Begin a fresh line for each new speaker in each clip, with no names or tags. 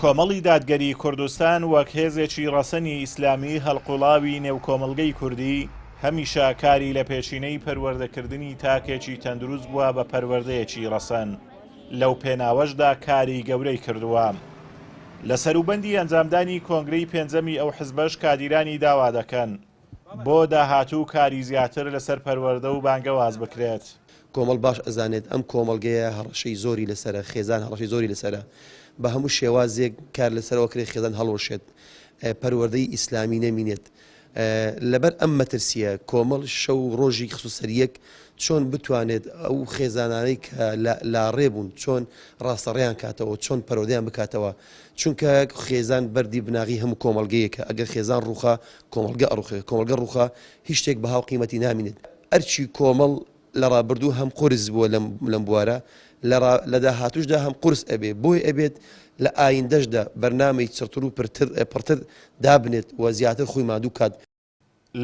کۆمەڵی دادگەری کوردستان وەک هێزێکی ڕەسەنی ئیسلامی هەڵقوڵاوی نێو کۆمەڵگەی کوردی، هەمیشە کاری لە پێشینەی پەروەردەکردنی تاکێکی تەندروست بووە بە پەروەردەیەکی ڕەسەن، لەو پێناوەشدا کاری گەورەی کردووە. لە سەروبەندی ئەنجامدانی کۆنگرەی پێنجەمی ئەو حزبەش کادیرانی داوا دەکەن، بۆ داهاتوو کاری زیاتر لەسەر پەروەردە و بانگەواز بکرێت. کۆمەڵ باش
ئەزانێت ئەم کۆمەڵگەیە هەڕەشەی زۆری لەسەرە، خێزان هەڕەشەی زۆری لەسەرە. بە هەموو شێوازێک کار لەسەر ئەوە کرێت خێزان هەڵوەشێت، پەروەردەی ئیسلامی نەمینێت. لەبەر ئەم مەترسییە کۆمەڵ شەو و ڕۆژی خستووە سەر یەک چۆن بتوانێت ئەو خێزانانەی کە لە لاڕێ بوون چۆن ڕاستەڕێیان کاتەوە، چۆن پەروەردەیان بکاتەوە. چونکە خێزان بەردی بناغی هەموو کۆمەڵگەیەکە، ئەگەر خێزان ڕووخا کۆمەڵگە ئەڕوخێ، کۆمەڵگە ڕوخا هیچ شتێک بەها و قیمەتی نامینێت، ئەرکی کۆمەڵ لە ڕابردوو هەم قورس بووە لەم بوارە، لە داهاتووشدا هەم قورس ئەبێ، بۆی ئەبێت لە ئایندەشدا بەرنامەی چڕتر و پڕتر دابنێت و زیاتر خۆی ماندوو بکات.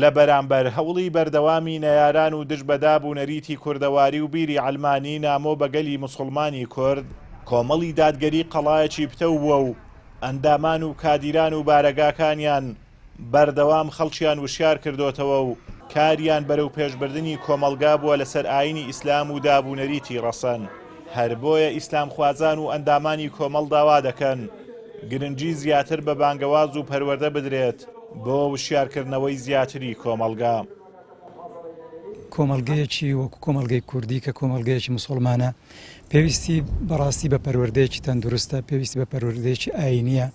لە
بەرامبەر هەوڵی بەردەوامی نەیاران و دژ بە داب و نەریتی کوردەواری و بیری عەلمانی نامۆ بە گەلی موسوڵمانی کورد، کۆمەڵی دادگەری قەڵایەکی پتەو بووە و ئەندامان و کادیران و بارەگاکانیان بەردەوام خەڵکیان وشیار کردۆتەوە و کاریان بەرەو پێشبردنی کۆمەڵگا بووە لەسەر ئاینی ئیسلام و داب و نەریتی ڕەسەن، هەر بۆیە ئیسلامخوازان و ئەندامانی کۆمەڵ داوا دەکەن گرنگی زیاتر بە بانگەواز و پەروەردە بدرێت بۆ وشیارکردنەوەی زیاتری کۆمەڵگا.
کۆمەڵگەیەکی وەکو کۆمەڵگەی کوردی کە کۆمەڵگەیەکی مسوڵمانە، پێویستی بەڕاستی بە پەروەردەیەکی تەندروستە پێویستی بە پەروەردەیەکی ئاینیە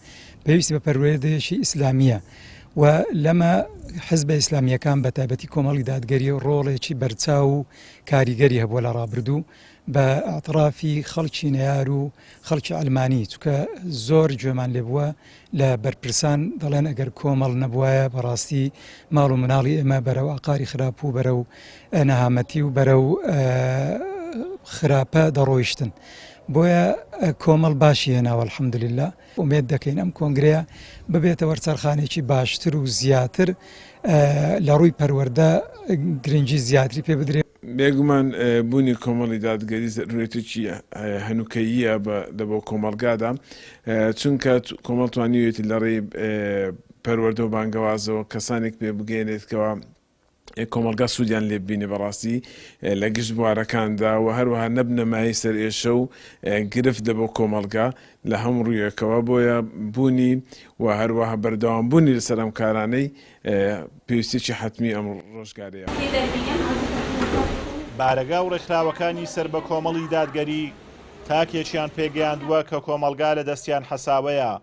پێویستی بە پەروەردەیەکی ئیسلامیە و لەمە حزبە ئیسلامیەکان بە تایبەتی کۆمەڵی دادگەری ڕۆڵێکی بەرچاو و کاریگەری هەبووە لە ڕابردوو بە ئاطرافی خەڵکی نەار و خەڵکی ئەلمانی چکە زۆر گوێمان لێ بووە لە بەرپرسان دەڵێن ئەگەر کۆمەڵ نەبوایە بەڕاستی ماڵ و مناڵی ئێمە بەرەو ئاقاری خراپ و بەرەو نەهامەتی و بەرەو خراپە دەڕۆیشتن بۆیە کۆمەڵ باشی هێناوە الحەمدللا ئومێد دەکەین ئەم کۆنگرەیە ببێتە وەرچەرخانێکی باشتر و زیاتر لە ڕووی پەروەەردە گرنگی زیاتری پێ بدرێت بێگومان
بوونی کۆمەڵی دادگەری زەرورەتێکی هەنووکەییە لەبۆ کۆمەڵگادا چونکە کۆمەڵ توانیوێتی لەڕێی پەروەردە و بانگەوازەوە کەسانێک پێ بگەێنێت کەەوە کۆمەلگا سوودیان لێ بینێ بەڕاستی لە گشت بوارەکاندا و هەروەها نەبنەمای سەر ئێشە و گرفت لە بۆ کۆمەلگا لە هەم ڕوویەکەوە بۆیە بوونی و هەروەها بەردەوام بوونی لەسەر ئەم کارانەی پێویستیەکی حەتمی ئەم ڕۆژگارەیە.
بارەگا و ڕێکخراوەکانی سەر بە کۆمەڵی دادگەری تاکێکیان پێگەیاندووە کە کۆمەڵگا لە دەستیان حەساوەیە،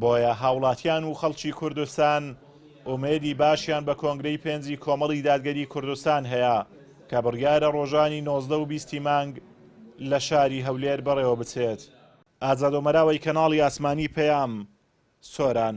بۆیە هاوڵاتیان و خەڵکی کوردستان ئومێدی باشیان بە کۆنگرەی پێنجی کۆمەڵی دادگەری کوردستان هەیە کە بڕیارە ڕۆژانی نۆزدە و بیست ی مانگ لە شاری هەولێر بەڕێوە بچێت. ئازادۆمەراوەی کەناڵی ئاسمانی پەیام، سۆران.